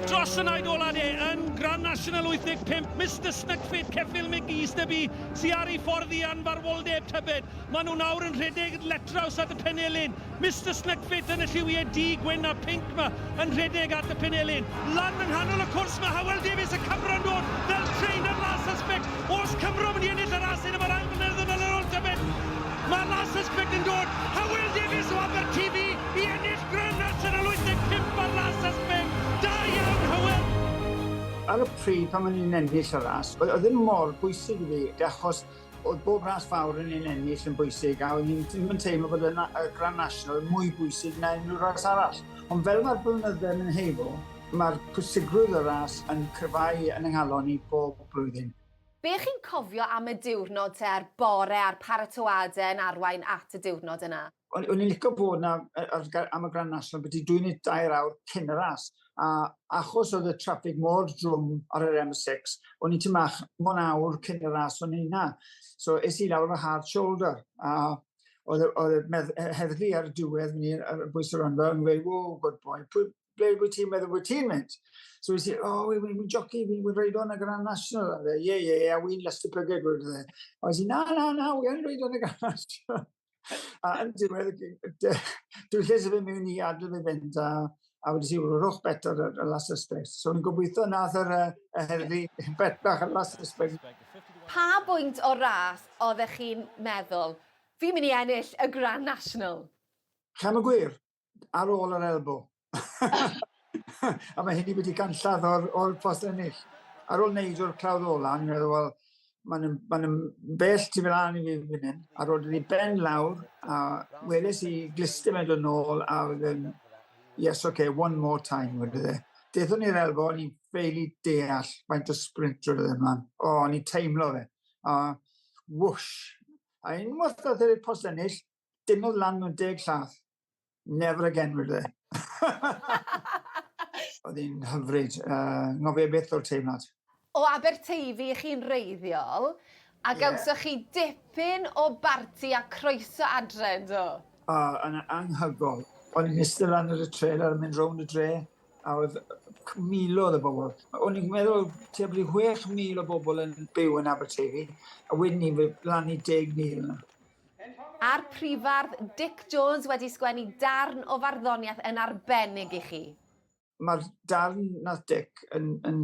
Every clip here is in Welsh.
Dros y naid ola de, yn Grand National 85, Mr Snugfit, Ceffil McGee, Stubby, sy ar ei ffordd i anfarwoldeb tybed. Mae nhw nawr yn rhedeg letraws at y penelin. Mr Snugfit yn y lliwiau du, gwyn a pink ma, yn rhedeg at y penelin. Lan yng nghanol y cwrs mae Hywel Davies y Cymro'n dod fel trainer last suspect. Os Cymro mynd i ennill y ras hyn yma'r ail flynedd yn ôl tybed. Mae Larsens Pick yn dod a Will Davies o Abertifi i ennill Grand National 85 ar Larsens Pick. Da iawn Hywel! Ar y pryd pan o'n i'n ennill y ras, oedd e ddim mor bwysig i fi, achos oedd bob ras fawr o'n i'n ennill yn bwysig, a o'n i ddim yn teimlo bod y y Grand National yn mwy bwysig na unrhyw ras arall. Ond fel mae'r blynydde'n mynd heibio, mae'r pwysigrwydd y ras yn cryfhau yn 'y nghalon i bob blwyddyn. Be' chi'n cofio am y diwrnod te a'r bore a'r paratoade yn arwain at y diwrnod yna? O'n o'n i'n lico bod 'na yy ar ga- am y Grand National byti dwy neu dair awr cyn y ras a achos oedd y traffig mor drwm ar yr M six o'n i tŷ mach mon awr cyn y ras o'n i 'na so es i lawr efo hard shoulder a oedd y oedd y medd- yy heddlu ar y diwedd myn' i yy bwyso rando yn gweud ww good boy pwy ble wyt ti'n meddwl wyt ti'n mynd? So wyt ti, o, oh, wy'n mynd joci, wy'n mynd reid o'n y Grand National. A fe, ie, ie, ie, a wy'n last y pyged, wyt ti. A wyt ti, na, na, na, wy'n reid o'n y Grand National. a yn diwedd, dwi'n lle sef mewn i adl fe fynd, a, a wedi ti, wy'n rhwch bet ar y last aspect. So ni'n gobeithio nath yr herddi bet bach ar last aspect. Pa bwynt o'r ras oeddech chi'n meddwl, fi'n mynd i ennill y Grand National? Cam y gwir, ar ôl yr elbow. a mae hynny wedi ganlladd o'r, or post ennill. Ar ôl wneud o'r clawdd ola, ni'n meddwl, wel, mae'n ma bell ti fel ân i fi fan hyn. A roedd wedi ben lawr, a weles i glister mewn yn ôl, a oedd yn, yes, okay, one more time, wedi dde. Dethon ni'r elfo, ni'n ffeili deall faint o sprint roedd yn ymlaen. O, ni'n teimlo fe. A whoosh. A unwaith oedd e'r post ennill, Dynodd lan mewn deg llath. Never again, wedi. Oedd hi'n hyfryd. Uh, ngofio beth o'r teimlad. O Aberteifi i chi'n reiddiol, a yeah. gawsoch chi dipyn o barti a croeso adre, do? O, uh, yn anghygol. O'n i'n eistedd lan ar y trailer yn mynd rownd y dre, a oedd milodd o bobl. O'n i'n meddwl tebl i 6,000 o bobl yn byw yn Aberteifi, a wedyn ni lan i 10,000 yna. A'r Prifardd Dic Jones wedi sgwennu darn o farddoniaeth yn arbennig i chi. Mae'r darn nath Dic yn yn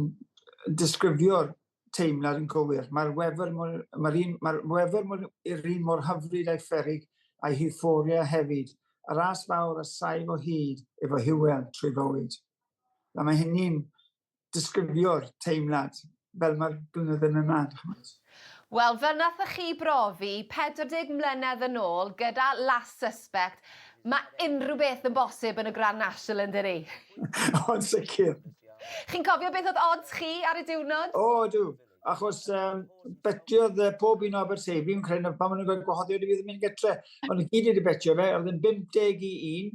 disgrifio'r teimlad yn gywir. Mae'r wefr mor mae'r un mae'r wefr mor i'r un mor hyfryd a'i pheryg a'i hiwfforia hefyd. Y ras fawr a saif o hyd efo Hywel trwy fywyd. A mae hynny'n disgrifio'r teimlad fel mae'r blynydde yn mynd mlaen, chimod. Wel, fel nathoch chi brofi 40 mlynedd yn ôl gyda Last Suspect, mae unrhyw beth yn bosib yn y Grand National yn dydi? O, yn sicr. Chi'n cofio beth oedd odds chi ar y diwrnod? O, ydw. Achos um, betiodd uh, pob un o Aberteifi yn creu pan maen nhw'n gweld gwahoddiad i fi ddim yn gytre. Ond y gyd wedi betio fe, oedd yn 51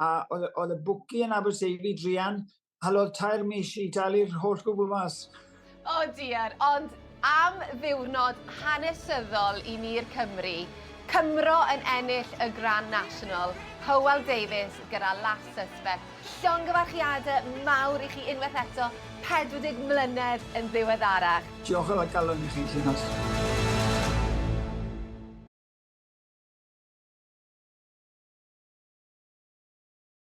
a oedd y bwci yn Aberteifi drian Halodd tair mis i dalu'r holl gwbl mas. O diar, ond am ddiwrnod hanesyddol i ni'r Cymry. Cymro yn ennill y Grand National, Hywel Davies gyda Last Suspect. Llongyfarchiadau mawr i chi unwaith eto, 40 mlynedd yn ddiweddarach. Diolch am y galon i chi, Llinos.